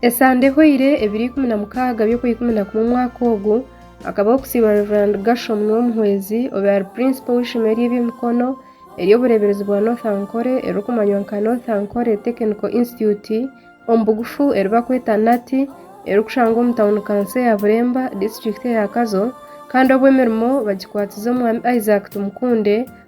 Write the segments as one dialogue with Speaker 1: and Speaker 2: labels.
Speaker 1: Esande ehoire, ebiro ikumi na mukaaga by'okwa ikumi na kumwe omwaka ogu, hakabaho okusiiba Rev. Gershom Niwomuhwezi obe ari Purinsipo w'eishomero ry'eby'emikono ery'obureeberezi bwa North Ankole eririkumanywa nka North Ankole Technical Institute, omu bugufu eri barikweta NATT, erikushangwa omu tauni kanso eya Buremba, disiturikiti eya Kazo kandi obu emirimo bagikwatize Omwami Isaac Tumukunde,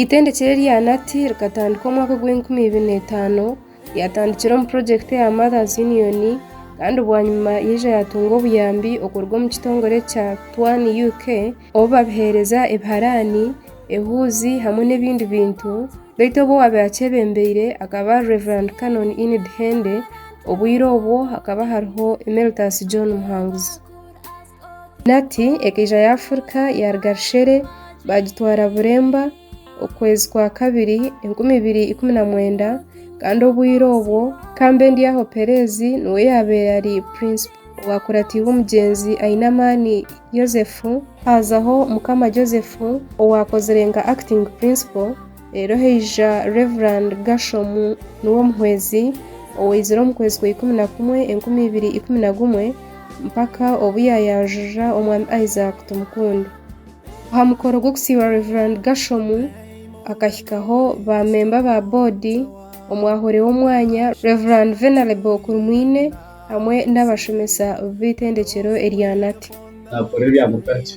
Speaker 1: Eitendekero erya NAT rikatandika omwaka ogw'enkumi ibiri na itaano, ryatandikira omu purojekiti eya Mothers Union kandi bwanyima yaija yatunga obuyambi okuruga omu kitongore kya Twan UK obu babiheereza ebiharaani, ehuuzi hamwe n'ebindi bintu beitu obu owaabaire akyebembeire akaba ari Rev. Canon Enid Hende obwire obwo hakaba hariho Emeritus John Muhanguzi. Penati ekaija yaafurika yaaruga rushere baagitwara buremba okwezi kwa kabiri enkumi ibiri ikumi na mwenda kandi obwire obwo Kambendyaho Pereezi niwe yaabaire ari purinsipo owaakuratirwe omugyenzi Ainamani Yosefu, haazaho Mukama Joseph owaakozire nka akitingi purinsipo. Reero haija Rev. Gershom, niwe omuhwezi, owaizire omu kwezi kwa ikumi na kumwe enkumi ibiri ikumi na gumwe, mpaka obu yaayanjurira Omwami Isaac Tumukunde. Aha mukoro gw'okusiiba Rev. Gershom, hakahikaho baamemba ba boodi, omwahore w'omwanya, Rev. Venerable Kurumwine, hamwe n'abashomesa b'eitendekyero erya Nati. Naakora ebya mutagye.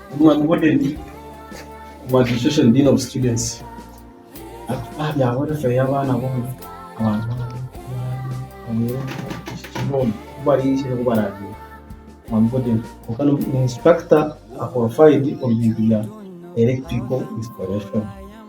Speaker 1: Omwami Woodhead omu Administration Dean of Students ari aha bya welfare y'abaana boona kwonka ni instructor a qualified omu bintu bya electrical installation.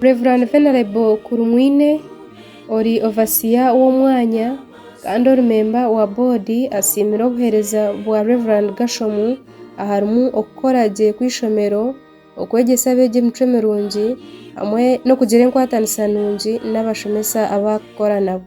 Speaker 1: Rev Venerable Kurumwine ori Ovasiya w'omwanya kandi ori memba wa boodi asiimire obuheereza bwa Rev Gashomu aharimu okukora gye kw'eishomero, okwegyesa abeegi emicwe mirungi hamwe n'okugira enkwatanisa nungi n'abashomesa abu arikukora nabo.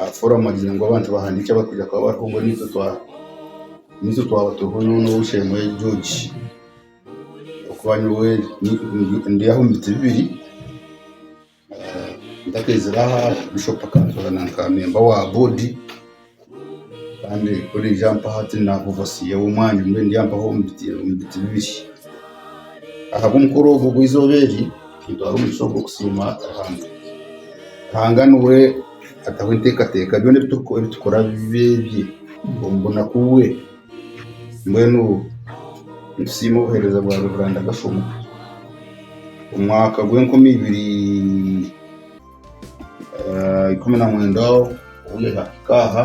Speaker 1: Aha foramu agiire ngu abantu bahandiike abarikwija kuba bariho ngu niitwe twaba turiho nyowe ou Shemweli George okuba nyowe ndi aha omu biti bibiri ntakeizire aha Bishop akantora nka memba wa boodi kandi ku orije ampa hati ndi ovasia w'omwanya mbwenu ndi ampaho omu biti bibiri ahabw'omukoro ogwo ogw'eizooba eri Nitwaha omugisha ogwo kusiima Ruhanga. Ruhanga niwe ataho enteekateeka, byona ebi turikukora ebi tukora bibe ebye, omu bunaku bwe. Mbwenu nitusiima obuheereza bwa Reveranda Gashoma. Omu mwaka gw'enkumi ibiri ah, ikumi na mwenda obu yahika aha,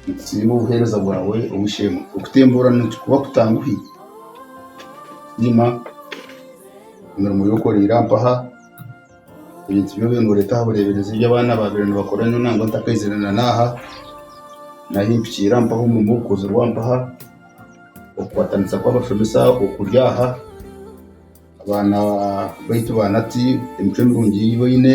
Speaker 1: Nitusiima obuheereza bwawe Omushemba. Okutemburana nikikuba kutanguhi? Tusiima emirimo ei okoreire aha mpaha, ebintu bi obaire noreeta aha bureeberezi ebi abaana baabaire nibakora nyowe nangwa ntakaizire na naaha, n'ahi mpikiire aha mpaha omurimo ogukozirwe aha mpaha, okukwatanisa kw'abashomesa okuri aha, abaana baitu ba Nati, emicwe mirungi ei baine.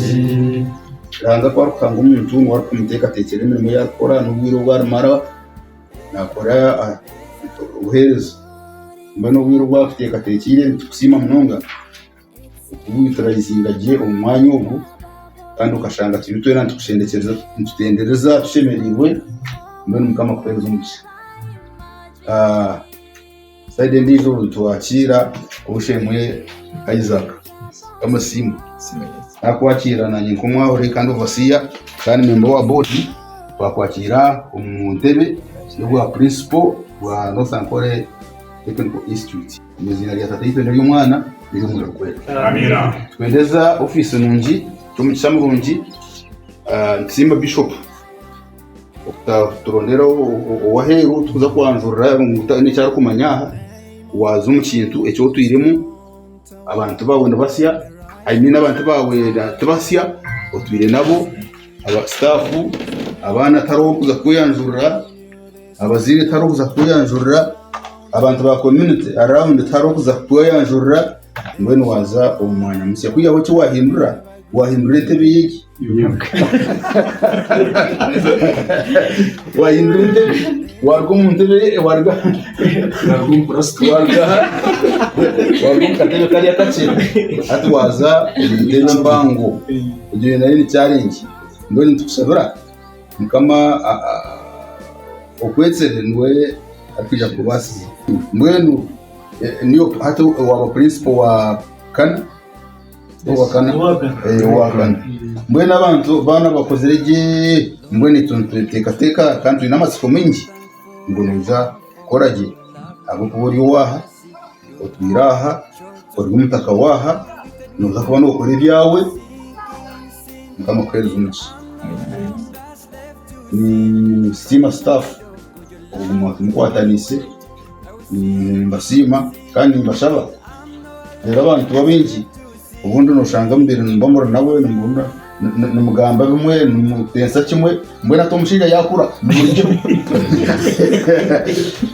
Speaker 1: Ruhanga ku arikuhanga omuntu niwe arikumuteekateekyera emirimo ei arikukora n'obwire obu arimara naakora obuheereza. Mbwenu obwire obu atuteekateekyeire nitubusiima munonga ku turaizinga gye omu mwanya ogu kandi okashanga turi twena nitutendekyereza nitutendereza tushemereirwe mbwenu Mukama akuheereze omugisha. Sayidi endiijo nitwakira Obushemwe Isaac Bamusiime. Nakwakira nanye nk'omwahure kandi Overseer kandi memba owa Board twakwakira omu ntebe y'obwa Principal bwa North Ankole Technical Institute. Omu iziina rya Tataitwe n'ery'Omwana n'ery'Omwoyo Gwera. Nitwendeza ofiisi nungi, n'omugisha murungi. Nitusiima Bishop. Okuturondera ow'aheeru orikuza kwanjurira ngu haine eki arikumanya aha, waaza omu kintu eki otwiremu, abantu baawe nibatsya, I mean abantu baawe tibatsya, otwire nabo, sitaafu, abaana tihariho orikuza kukweyanjurira, abazaire tihariho orikuza kukweyanjurira, abantu ba community around tihariho orikuza kukweyanjurira. Mbwenu waaza omu mwanya musya, kwihaho ki waahindura? Waahindura entebe y'egi? waahindura entebe? Waaruga omu ntebe, waaruga waaruga omu purasitiki, waaruga aha, waaruga omu katebe kari akakye, hati waaza omu ntebe empango. Egyo yo nayo ni challenge. Mbwenu nitukushabira Mukama a- a- okwetsere niwe arikwija kukubaasiza. Mbwenu. Eh, niyo hati owaaba purinsipo wa kana owa kana Eh, owa kana mbwenu abantu baana bakozire gye mbwenu itwe nitweteekateeka kandi twine amatsiko maingi ngu noija kukora gye ahabw'okuba ori owaaha otwire aha ori omutaka waaha nooza kuba nookora ebyawe mukama akuheereze omugisha Mm, sitiima sitaafu oguma mukwataniise Nimbasiima kandi nimbashaba reero abantu babaingi obundi nooshanga mubaire nimuba muri nawe nimugamba bimwe nimuteesa kimwe mbwenu hati omushaija yaakura nimugira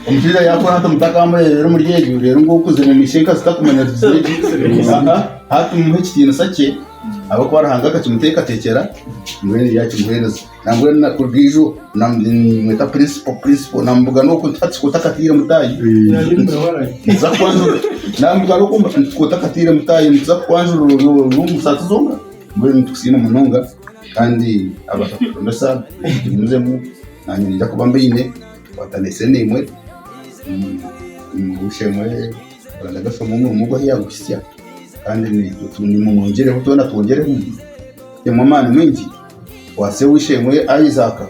Speaker 1: omushaija yaakura hati mutakamureebera omuri egyo reero ngu okuzire omu ishe enkazi takumanya zigizire gye aa hati mumuhe ekitiinisa kye ahabw'okuba Ruhanga akakimuteekateekyera mbwenu yakimuheereza. Nambwenu na kuruga ijo na- nimweta purinsipo purinsipo namubuga n'oku nti hati sikoti akataire mutaahi nituza kukwanjurira namubuga n'oku nti hati sikoti akataire mutaahi nituza kukwanjurira ori ori omu busaasi zoona mbwenu nitukusiima munonga kandi abaasa kutushomesa tugumiizemu naanye ninyija kuba mbaine tukwatane esene emwe mm Busheera Rwanda Day omu omurimo ogu ahi yaaguhitsya kandi ni- nimumwegyereho twena twegyeremu tuteemu amaani maingi. Kwatsa eishe-emwe a Isaaka,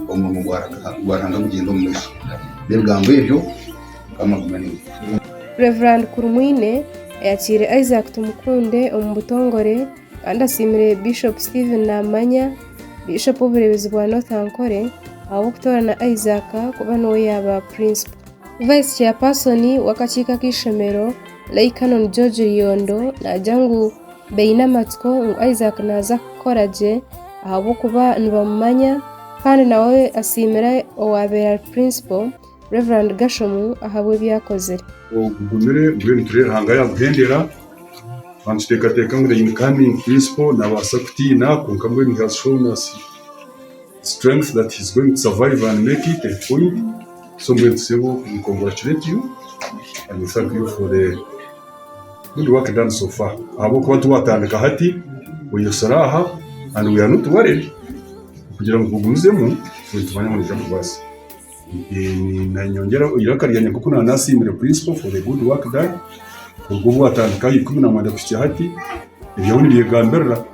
Speaker 1: omurimo gwa Ruhanga gugyende omu maisho. N'ebigambo ebyo Mukama agume naiwe. Rev. Kurumwine ayakiire Isaac Tumukunde omu butongore kandi asiimire Bishop Stephen Namanya, Bishop w'obureebezi bwa North Ankole ahabw'okutoorana Isaac kuba niwe yaaba Principal. Vice Chairperson w'akakiiko ak'eishomero, Lay Canon George Ryondo naagira ngu, Baine amatsiko ngu Isaac naaza kukora gye ahabw'okuba nibamumanya kandi nawe asiimire owaabaire ari Purinsipo, Rev. Gashomu ahabw'ebi yaakozire. Ogumire gwe nitureeba Ruhanga yaaguhendera twaba nituteekateeka ngu the incoming Purinsipo naabaasa kutiina kwonka mbwenu he has shown us strength that he is going to survive and make it a point so mbwenu tushemereire we congratulate you and we thank you for the Good work done so far ahabw'okuba tiwatandika hati oyesire aha and we are not worried kugira ngu ogumizemu nitwanya ngu noija kubaasa. Eeh, nanyongyera eiraka ryangye nk'oku naaba nasiimire Principal for the good work done kuruga obu watandika aha ikumi na mwenda kuhikya hati ebyawe nibyegambirira.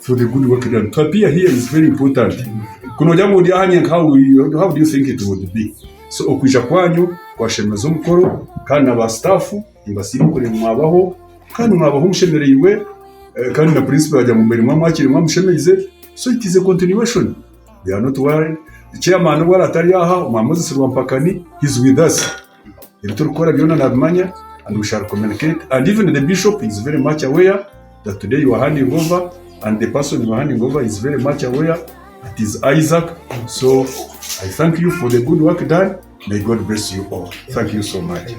Speaker 1: for the good work done. To appear here is very important. Ku noorya ngu ndi aha nyenka how will you- how do you think it would be? So okwija kwanyu kwashemeza omukoro kandi na ba staff nibasiima oku orikureeba mwabaho kandi mwabaho mushemereirwe eh, kandi na principal yaagira ngu mbaire mwamwakiire mwamushemeize so it is a continuation. We are not worried. Chairman obu aratari aha, omwami Moses Rwampakani he is with us. ebiturikukora byona nabimanya and we shall communicate and even the bishop is very much aware that today you are handing over and the person you are handing over is very much aware it is Isaac so I thank you for the good work done may God bless you all thank you so much.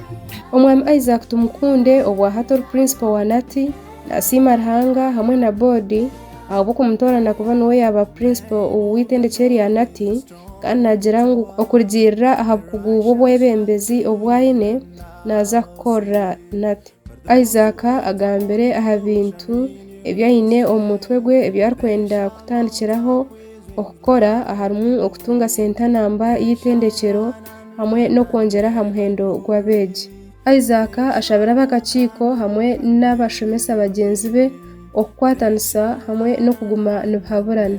Speaker 1: Omwami Isaac Tumukunde obwa hati ori Principal wa Nati nasiima Ruhanga hamwe na Board ahabw'okumutoorana kuba niwe yaba Principal w'eitendekye rya Nati. Kandi naagira ngu okurugiirira aha bukugu bw'obwebembezi obu aine, naaza kukora nate? Isaac agambire aha bintu ebi aine omu mutwe gwe ebi arikwenda kutandikiraho kukora aharimu okutunga sentanamba y'eitendekyero hamwe n'okwongyera aha muhendo gw'abeegi. Isaac ashabire ab'akakiiko hamwe n'abashomesa bagyenzi be okukwatanisa hamwe n'okuguma nibahaburana.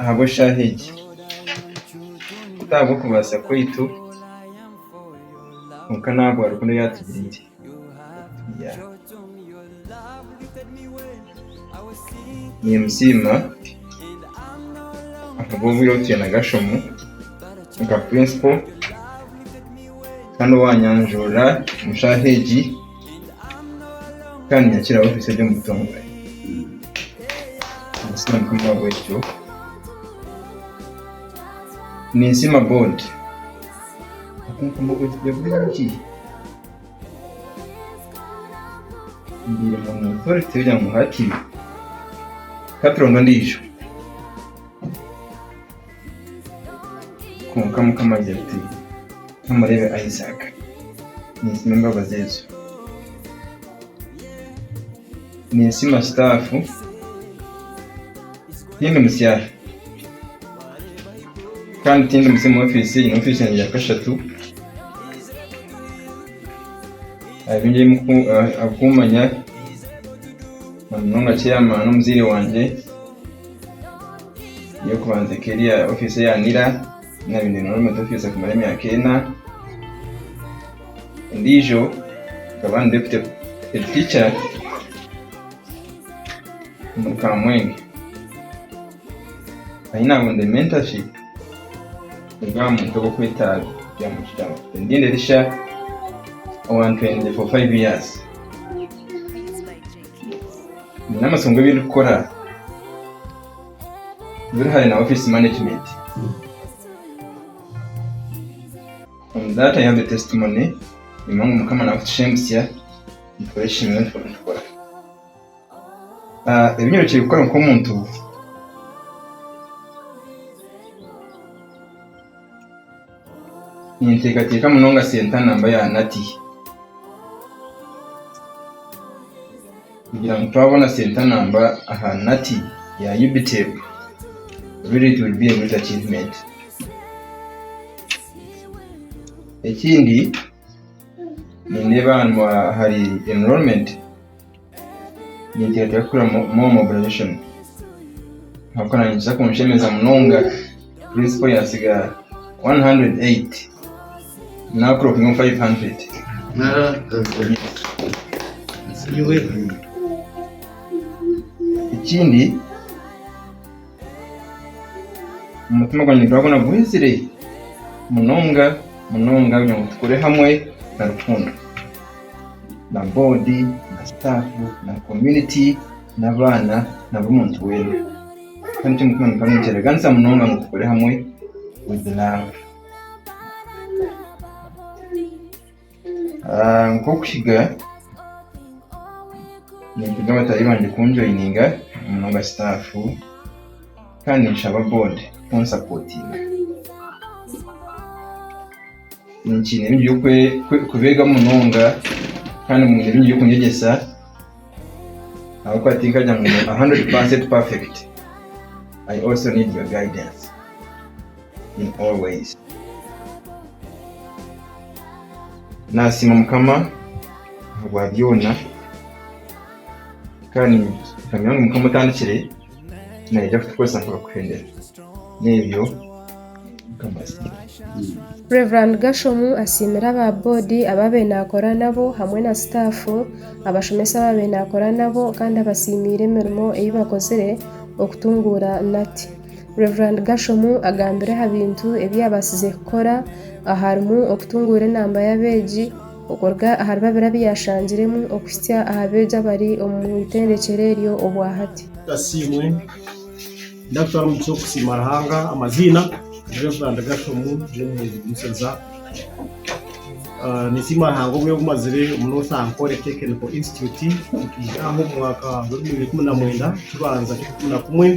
Speaker 1: ahabw'eshaaha egi, ti ahabw'okubaasa kwaitu, kwonka n'ahabwa rukundo ei atugiriire. Niimusiima ahabw'obwire obu twine Gashomu nka Purinsipo kandi owaanyanjurira omu shaaha egi. kandi nyakira ofiisi eri omu butongore ninsiima mukama ahabw'ekyo ninsiima boodi okunkuuma obwegyesibwa bwingi mbaire mu otoriti kugira ngu hati ka turonde ondiijo Kwonka Mukama agira ati, Tomureebe Isaaka. Ninsima embabazi ezo. Ninsima sitaafu. Tindi musyara. Kandi tindi musya omu ofiisi. Nyine ofiisi yangye ya kashatu. Aharinye ahabw'okummanya na munonga chairman omuzaire wangye. Eyokubanza ekaba eri aha ofiisi eya Nira, ei naabaire niinyorera omuri ofiisi okumara emyaka ena. Endiijo nkaba ndi deputy head teacher omuri Kamwenge. Ahi naabonire mentorship eri aha muntu orikwetwa Tendinda Elisha owa ntwenty for five years. Nyine amasonga ebi ndikukora buri hare na office management. From that I have a testimony nimba ngu Mukama nakutusha emitsya nikikora eki nyowe ndiho nikikora. Ah, ebi nyorokire kukora nk'omuntu, Ninteekateeka munonga Sentana mba yaanati. Kugira ngu twabona Sentana mba aha nati ya UBTEB, really it will be a great achievement. Ekindi, nindeeba aha aha enrollment. Ninteekateeka kukorera More Mobilisation ahabw'okuba naanye nikiza kunshemeza munonga prinsipo yaatsiga 108 naakurokinga omu 500. Ekindi Omutima gwangye nigurabona guhuzire munonga munonga kugira ngu tukore hamwe na rukundo na boodi na sitaafu na komuniti n'abaana na buri muntu weena. Kandi ekyo omutima gukaba nikireeganisa munonga ngu tukore hamwe wizi laavu. Nk'okuhiga nintunga bataahi bangye kunjoyininga munonga sitaafu kandi ninshaba boodi kunsapotinga. Nikiine bingi by'okubeegaho munonga kandi biine bingi by'okunyegyesa ahabw'okuba tinkagira ngu ndi hundred percent perfect, I also need your guidance. in all ways. Nasiima mukama ahabwa byoona kandi nikamya ngu mukama otandikire nayija kutukoresa mpaka kuhender nebyo mukama asiimwe. Rev Gashomu asiimire aba boodi abaabaire naakora nabo hamwe na sitaafu, abashomesa abaabaire naakora nabo kandi abasiimiire emirimo ei bakozire okutunguura Nati. Rev Gashomu agambire aha bintu ebi yaabaasize kukora aharimu okutunguura enamba y'abeegi okuruga ahari babiri abu yaashangiremu okuhitsya aha beegi abari omu itendekero eryo obwahati. Asiimwe. Ndakutwara omu kiti okusiima Ruhanga. Amaziina, Ndi Rev Gashomu, ndi omuheereza Omusheza. Ninsiima Ruhanga obwire obu mazire omu North Ankole Technical Institute. Nkaija aha omwaka gw'ebihumbi bibiri na ikumi na mwenda, ekibanza ky'okukunda kumwe.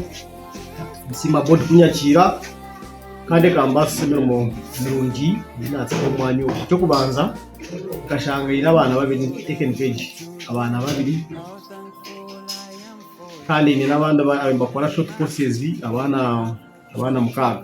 Speaker 1: Nsiima boodi kunyakiira kandi ekambaasisa emirimo mirungi ei naateeka omu mwanya ogu. Eky'okubanza nkashanga nyine abaana babiri abaana babiri kandi nyine n'abandi abu ndikora short courses abaana mukaaga.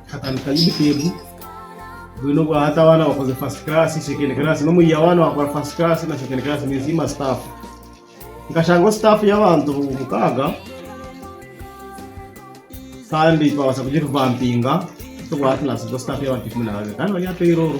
Speaker 1: katandika Unitab, bwine obwa hati abaana bakoze first class, second class, n'omu year one wakora first class na second class ninsiima staff. Nkashangaho staff y'abantu mukaaga kandi twabaasa kugi revampinga, obwa hati naasigaho staff y'abantu ikumi na babiri kandi bari aha payroll.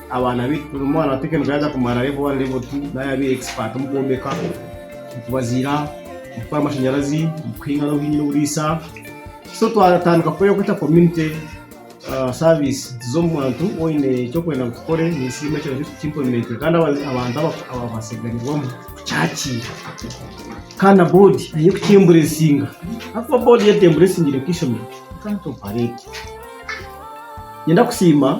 Speaker 1: Abaana baitu buri mwana wa Teecho yaaza kumara Level 1, Level 2 naaba yaabaire expert omu kwombeka, omu kubaziira, omu kukora amashanyarazi, omu kuhinga n'obu hiine oburiisa. So twatandika kukora ekyokweta community service tuza omu bantu waaba oine ekyokwenda ngu tukore nisiima ekyo kintu tuki implement kandi abantu ababaase kuganyirwamu kukyakiira kandi na board eine kuki emburesinga ahakuba board yaaba etembulesingire nka eishomero you can't operate. Niinyenda kusiima.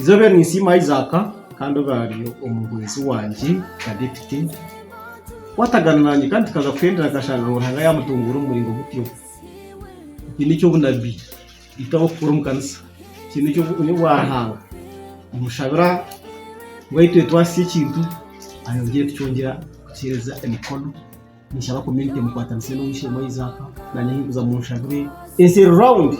Speaker 1: Izoobe ninsiima Isaac kandi oraari omuhwezi wangye Kadepite kwatagana nangye kandi tukaza kuhendera akashanga ngu Ruhanga yamutunguura omu muringo gutyo. Eki nikyo obunabbi itwe ab'okukora omu kanisa kiri nikyo bunya obwa Ruhanga nimushabira ngu ahi tweetwasize ekintu ayongyere kukyongyera kukiheereza emikono. Ninshaba community mukwatanise na ow'eishe-emwe Isaac nanye ahinkuza munshabire ensi eri round.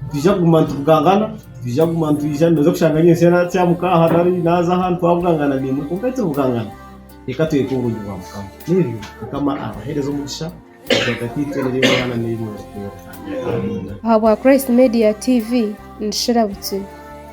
Speaker 1: Nitwija kuguma nitubugangana, nitwija kuguma nitwija noza kushanga nyentsya natya muka aha nari naza aha nitwabugangana niimwe kwonka ei turibugangana reka twete oburungi bwa Mukama. N'ebyo. Mukama abahereze omugisha ahagati itwe n'eri omwana n'eri mwojo. Amiina. Ahabwa Christ Media TV, ni Shira Butsiri.